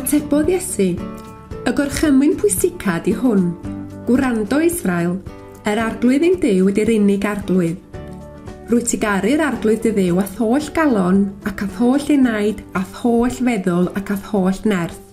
Atebodd Iesu, Y gorchymyn pwysica di hwn, Gwrando Israel, yr arglwydd ein Duw ydy'r unig arglwydd. Rwy ti garu'r arglwydd dy ddew ath holl galon ac ath holl enaid ath holl feddwl ac ath holl nerth.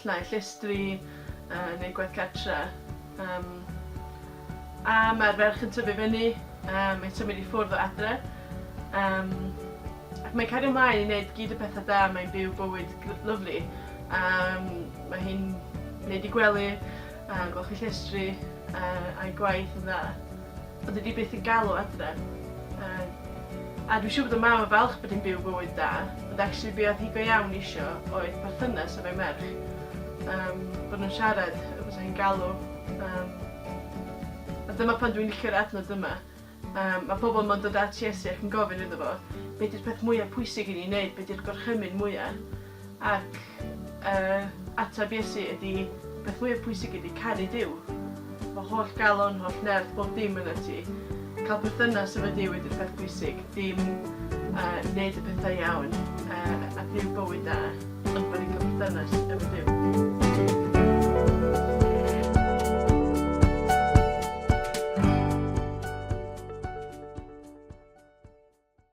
Lle i llestri, yy neud gwaith cartre. Yym. A ma'r ferch yn tyfu fyny, yym mae'n symud i ffwrdd o adre. Yym. Ac mae'n cario mlaen i neud gyd y petha da, mae'n byw bywyd gr- lyfli. Yym mae hi'n neud 'i gwely, a golchi llestri, yy a'i gwaith yn dda. Byddi di byth yn galw adref. Yy. A dwi siŵr bod y mam yn falch bod hi'n byw bywyd da, ond actually be oedd hi go iawn isio oedd perthynas efo'i merch. Yym, bod nhw'n siarad, y bysa hi'n galw. Yym. A dyma pan dwi'n licio'r adnod yma. Yym, ma' pobl yma'n dod at Iesu ac yn gofyn iddo fo, Be' 'di'r peth mwya pwysig i ni neud, be' 'di'r gorchymyn mwya? Ac yy ateb Iesu ydi peth fwya pwysig ydi caru Duw. Fy holl galon, holl nerth, bob dim yna ti. Ca'l perthynas efo Duw ydi'r peth pwysig, dim yy neud y petha iawn yy a byw bywyd da, ond bo' ni'n ca'l perthynas efo Duw.